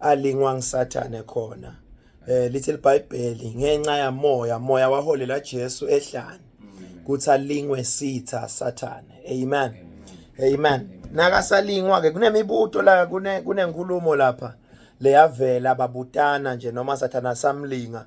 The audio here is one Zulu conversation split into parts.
alingwa ngisathane khona eh lithi libhayibheli ngenxa yamoya moya waholela Jesu ehlane kuthi alingwe sitha sathane amen amen nakasalingwa ke kunemibuto la kune kunenkulumo lapha leyavela babutana nje noma sathana samlinga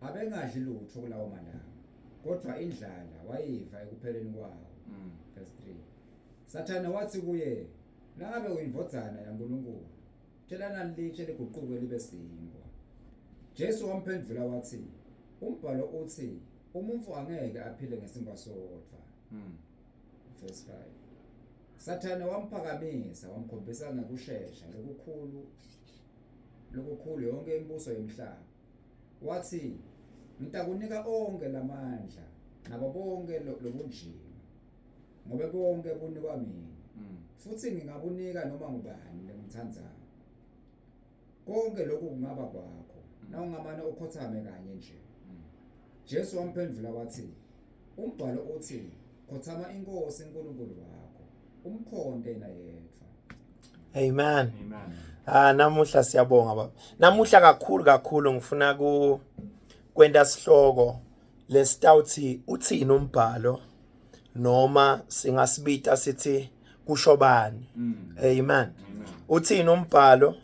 abengadli lutho kulawo malanga kodwa indlala wayiva ekupheleni kwawo mm. verse 3 sathane wathi kuye nangabe uyindvodzana yankulunkulu tshelana litshe liguquke libe sinkwa jesu wamphendvula wathi umbhalo uthi umuntu angeke aphile ngesinkwa sodwa mm. verse 5 sathane wamphakamisa wamkhombisa ngekushesha lokukhulu lokukhulu yonke imibuso yomhlaba wathi ngitakunika onke lamandla nabo bonke lobunjini ngoba konke kunikwa mina mm. futhi ngingabunika noma ngubani lengithandayo konke lokhu kungaba kwakho mm. nawungamane ukhothame kanye nje mm. Jesu wamphendula wathi Umbhalo uthi khothama inkosi uNkulunkulu wakho umkhonde yena yedwa. Amen. Amen. Ah namuhla siyabonga baba. Namuhla kakhulu kakhulu ngifuna ku kwenta sihloko lesitawuthi uthini umbhalo noma singasibita sithi kusho bani. Mm. Amen. Uthini umbhalo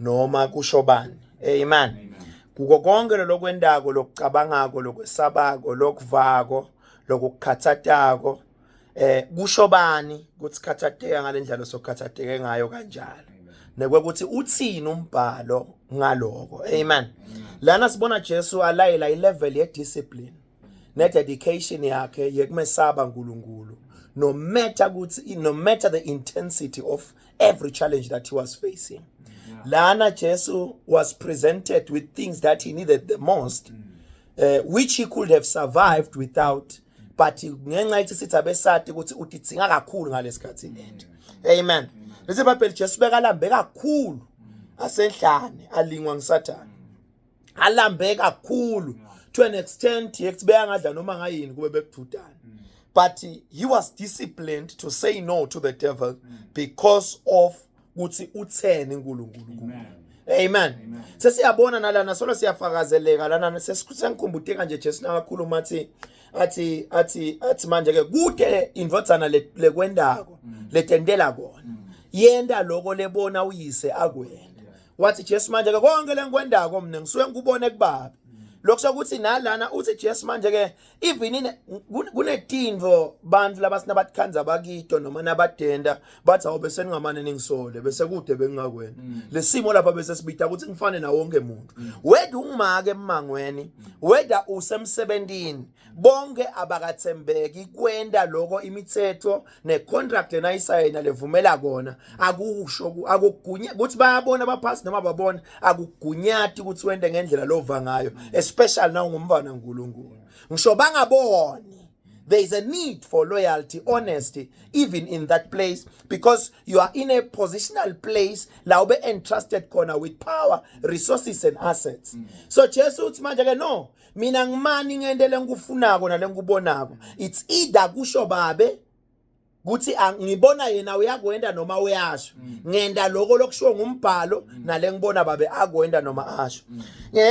noma kusho bani amen kuko konke lokwendako lokucabangako lokwesabako lokuvako lokukhathatako eh kusho bani ukuthi khathatheka ngalendlela sokhathatheke ngayo kanjalo nekwekuthi uthini umbhalo ngaloko amen lana sibona Jesu alayela ilevel ye discipline nededication yakhe yekumesaba uNkulunkulu no matter ukuthi no matter the intensity of every challenge that he was facing yeah. lana Jesu was presented with things that he needed the most mm. uh, which he could have survived without but ngenxa ithi sithi abesati ukuthi udidzinga kakhulu ngalesikhathi lento mm. amen lesi bible Jesu bekalambe kakhulu mm. asenhlane alingwa ngisathana alambe kakhulu to an extent yekuthi beyangadla noma ngayini kube bekududana mm. but he was disciplined to say no to the devil mm. because of ukuthi utheni uNkulunkulu kuye Amen. Sesiyabona nalana solo siyafakazeleka lana sesikhumbude kanje Jesu nakakhulu mathi athi athi athi manje ke kude indvodzana lekwendako mm. letentela kona mm. yenda lokho lebona uyise akwena wathi jesu manje-ke konke le ngikwendako mna ngisuke ngikubone kubabi lokhu sokuthi nalana uthi jesu manje-ke even kunetinvo bantu laba sinabatikhandza bakito noma nabadenda bathi awu bese ningamane ningisole bese kude bengingakwena mm. le simo lapha bese sibita ukuthi ngifane nawo wonke muntu mm. weda ungimake emangweni weda usemsebentini bonke abakathembeki kwenda lokho imithetho necontract lena ayisayina levumela kona akusho akugunya ukuthi bayabona abaphasi noma babona akugunyati ukuthi wende ngendlela lova ngayo especially na ungumfana uNkulunkulu ngisho bangaboni there is a need for loyalty honesty even in that place because you are in a positional place la ube entrusted khona with power resources and assets mm. so Jesu uthi manje ke no mina ngimani ngente lengikufunako nalengikubonako it's either kusho babe kuthi ngibona yena uyakwenda noma uyasho mm. ngenda lokho lokushiwo ngumbhalo mm. nale ngibona babe akwenda noma asho mm.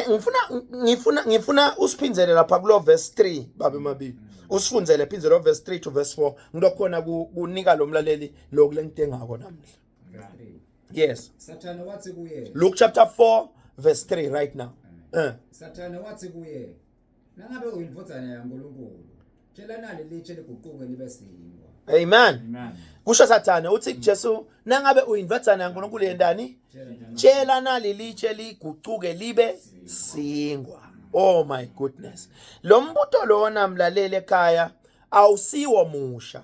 ngifuna ngifuna ngifuna usiphindele lapha kulo verse 3 babe mabili usifundzele phindze lo verse 3 to verse 4 ngilokhona kunika lo mlaleli lokhu lengitengako namhla Verse 3. Yes. Sathane wathi kuye. Luke chapter 4 verse 3 right now. Eh. Sathane wathi kuye, nangabe uyindvodzana yaNkulunkulu, tshela nali litshe liguquke libe sinkwa. Amen. Amen. Kusho Sathane uthi kuJesu, nangabe uyindvodzana yaNkulunkulu yendani? Tshela nali litshe liguquke libe sinkwa. Oh my goodness. Lo mbuto lona mlaleli ekhaya awusiwo musha.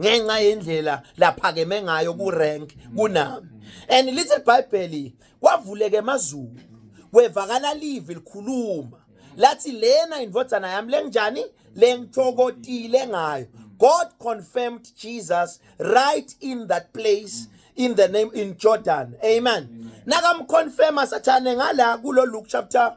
ngenxa yendlela laphakeme ngayo kurank kunami and little bible kwavuleke emazulu kwevakala live likhuluma lathi lena indvodzana yami lenjani lengithokotile ngayo god confirmed jesus right in that place mm. in the name in Jordan. Amen. Nakamconfirma sathane ngala kulo Luke chapter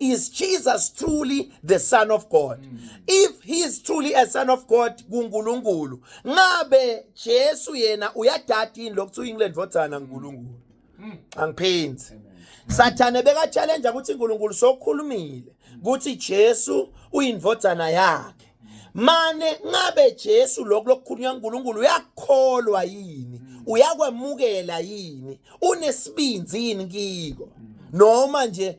is Jesus truly the son of God mm. if he is truly a son of God kuNkulunkulu ngabe Jesu yena uyadada yini lokuthu England vothana uNkulunkulu mm. angiphenzi sathane beka challenge ukuthi uNkulunkulu sokhulumile ukuthi Jesu uyindvodzana yakhe mane ngabe Jesu lokho lokukhulunywa uNkulunkulu uyakholwa yini mm. uyakwemukela yini unesibinzi yini kiko noma nje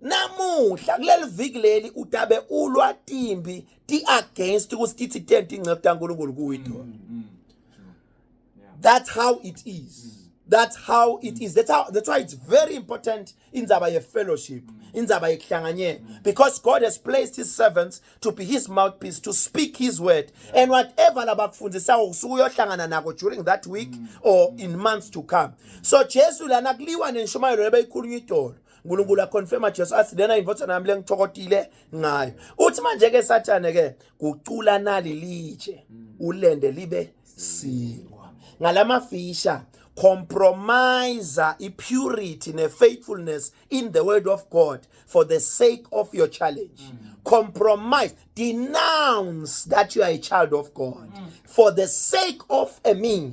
namuhla kuleli viki leli utabe ulwa timbi ti against kusikithi tenti ingcebo kaNkulunkulu kuyido mm, mm, mm. that's how it is mm. that's how it is that's how that's why it's very important in indaba ye fellowship mm. indaba yekuhlanganyela mm. because god has placed his servants to be his mouthpiece to speak his word yeah. and whatever labakufundisayo usuke uyohlangana nako during that week mm. or in months to come so jesu lana kuliwa nenshumayelo lebeyikhulunywa idolo uNkulunkulu aconfirma Jesu athi lena indvodzana yami lengithokotile ngayo uthi manje ke sathane ke kucula nali litshe ulende libe silwa ngalamafisha compromise i-purity ne-faithfulness in the word of god for the sake of your challenge mm. compromise denounce that you are a child of god mm. for the sake of a meal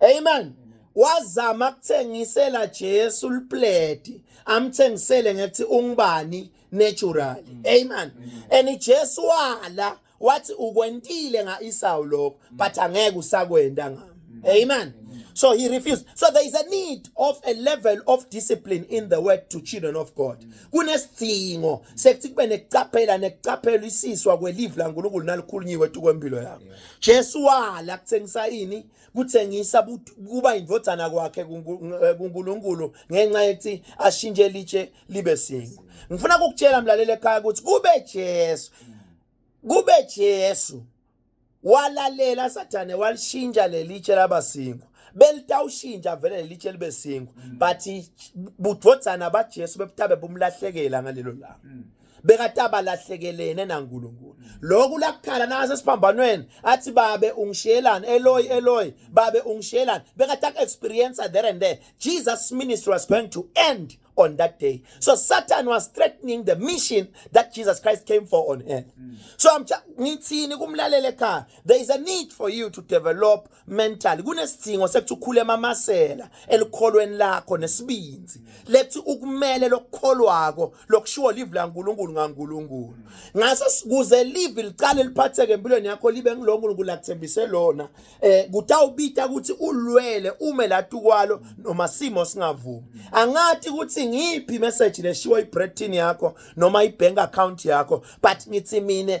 amen wazama ukuthengisela Jesu ulipleti amthengisele ngethi ungubani naturally mm. amen mm. and Jesu wala wathi ukwentile ngaIsawu lokho mm. but angeke usakwenda ngami mm. amen So he refused. So there is a need of a level of discipline in the word to children of God. Mm. Kunesidingo sekuthi kube nekucaphela nekucaphela isiswa kwelive laNkulunkulu nalikhulunyiwe tu kwempilo yakho. Jesu wala kuthengisa ini kuthengisa kuba indodana kwakhe eh, kuNkulunkulu ngenxa yethi ashintshe litshe libe singo ngifuna ukukutshela mlaleli ekhaya ukuthi kube Jesu kube Jesu walalela sathane walishintsha lelitshe laba singo belitawushintsha vele lelitshe libe singo mm. but budodana baJesu bebutabe bumlahlekela ngalelo langa mm. bekade abalahlekelene naNkulunkulu lokhu lakukhala nase siphambanweni athi babe ungishiyelani eloy eloy babe ungishiyelani bekade aku-experience there and there jesus ministry was going to end on that day so satan was threatening the mission that jesus christ came for on earth so ngithi kumlalele ekhaya there is a need for you to develop mentally kunesidingo sekuthi ukhule emamasela elikholweni lakho nesibinzi lethi ukumele lokukholwako lokushiwo live laNkulunkulu ngaNkulunkulu ngaso kuze live liqale liphatheke empilweni yakho libe ngiloNkulunkulu lakuthembise lona eh kutawubita ukuthi ulwele ume latukwalo noma simo singavumi angathi ukuthi ngiphi message leshiwo ibretin yakho noma ibank account yakho but ngithi mina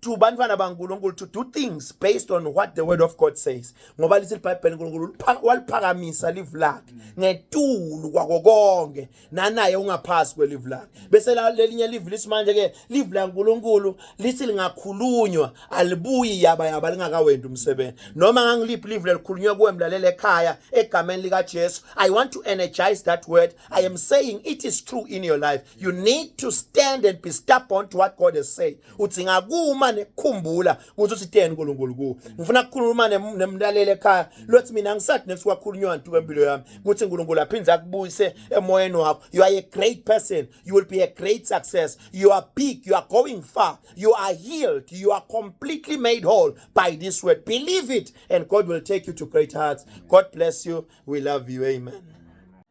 to bantwana baNkulunkulu to do things based on what the word of God says ngoba lithi iBhayibheli uNkulunkulu waliphakamisa live lakhe ngetulu kwako konke nanaye ungaphasi kwelive lakhe bese lelinye live lithi manje ke live laNkulunkulu lithi lingakhulunywa alibuyi yaba yaba lingakawendi umsebenzi noma ngangiliphi live lelikhulunywa kuwe mlalele ekhaya egameni likaJesu i want to energize that word i am saying it is true in your life you need to stand and be stubborn to what god has said uthi ngakuma nekukhumbula ukuthi usiteni unkulunkulu kuwo ngifuna kukhuluma nemlaleli ekhaya lothi mina ngisathi next kwakhulunywa ntuku empilo yami ukuthi unkulunkulu aphinde akubuyise emoyeni wakho you are a great person you will be a great success you are big you are going far you are healed you are completely made whole by this word believe it and god will take you to great hearts god bless you we love you amen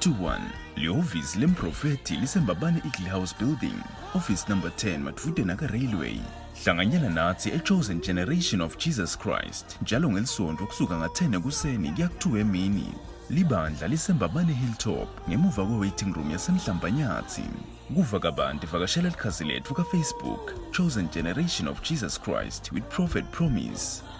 21 lihhovisi lemprofethi lisembabane eagle house building office number 10 madvude naka-railway hlanganyela nathi e-chosen generation of jesus christ njalo ngelisonto kusuka nga-10 ekuseni kuya ku-2 emini libandla lisembabane hilltop ngemuva kwe-waiting room yasemhlambanyathi kuva kabanti vakashela likhasi letfu kafacebook chosen generation of jesus christ with prophet promise